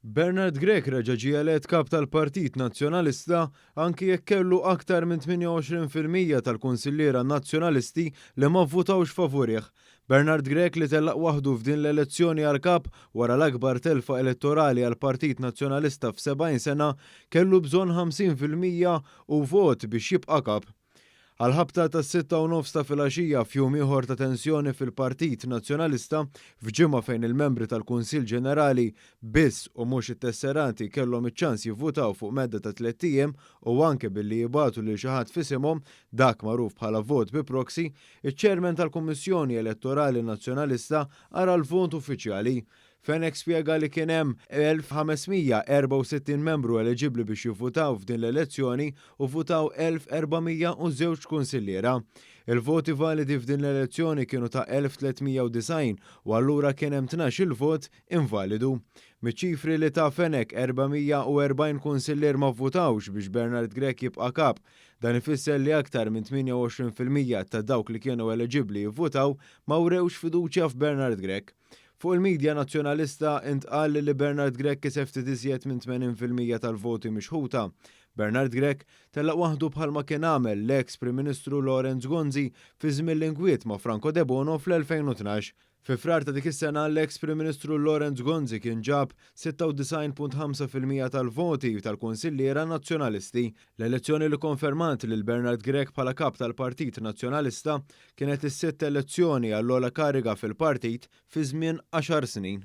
Bernard Grech reġa' ġie elett Kap tal-Partit Nazzjonalista anki jekk kellu aktar minn 28 fil-mija tal-kunsilliera Nazzjonalisti li ma vvutawx favurih. Bernard Grech li tellaq waħdu f'din l-elezzjoni għal Kap wara l-akbar telfa elettorali għall-Partit Nazzjonalista f' 70 sena kellu bżonn 50 fil-mija u vot biex jibqa' Kap. Għall-ħabta tas-sitta u nofs ta' filgħaxija f'jum ieħor ta' tensjoni fil-Partit Nazzjonalista, f'ġimgħa fejn il-membri tal-Kunsill Ġenerali biss u mhux it-tesserati kellhom iċ-ċans jivvutaw fuq medda ta' tlett ijiem u anke billi jibagħtu lil xi ħadd f'isimhom, dak magħruf bħala vot bi proxy, iċ-Chairman tal-Kummissjoni Elettorali Nazzjonalista ara l-vot uffiċjali Fenech spjega li kien hemm 1,564 membru eliġibbli biex jivvutaw f'din l-elezzjoni u vvutaw 1,402 kunsilliera. Il-voti validi f'din l-elezzjoni kienu ta' 1,390 u allura kien hemm tnax-il vot invalidu. Miċ-ċifri li ta Fenech 440 kunsillier ma vvutawx biex Bernard Grech jibqa' Kap. Dan ifisser li aktar minn 28 fil-mija ta' dawk li kienu eliġibbli jivvutaw ma wrewx fiduċja f'Bernard Grech. Fuq il-midja Nazzjonalista intqal li Bernard Grech kiseb ftit iżjed minn 80 fil-mija tal-voti mixħuta. Bernard Grech telaq waħdu bħalma kien għamel l-eks Prim Ministru Lawrence Gonzi fi żmien l-inkwiet ma' Franco Debono fl-2012. Fi Frar ta' dik is-sena l-eks Prim Ministru Lawrence Gonzi kien ġab 96.5 fil-mija tal-voti tal-kunsilliera Nazzjonalisti. L-elezzjoni li konfermat lil Bernard Grech bħala Kap tal-Partit Nazzjonalista kienet is-sitt elezzjoni għall-ogħla kariga fil-partit fi żmien għaxar snin.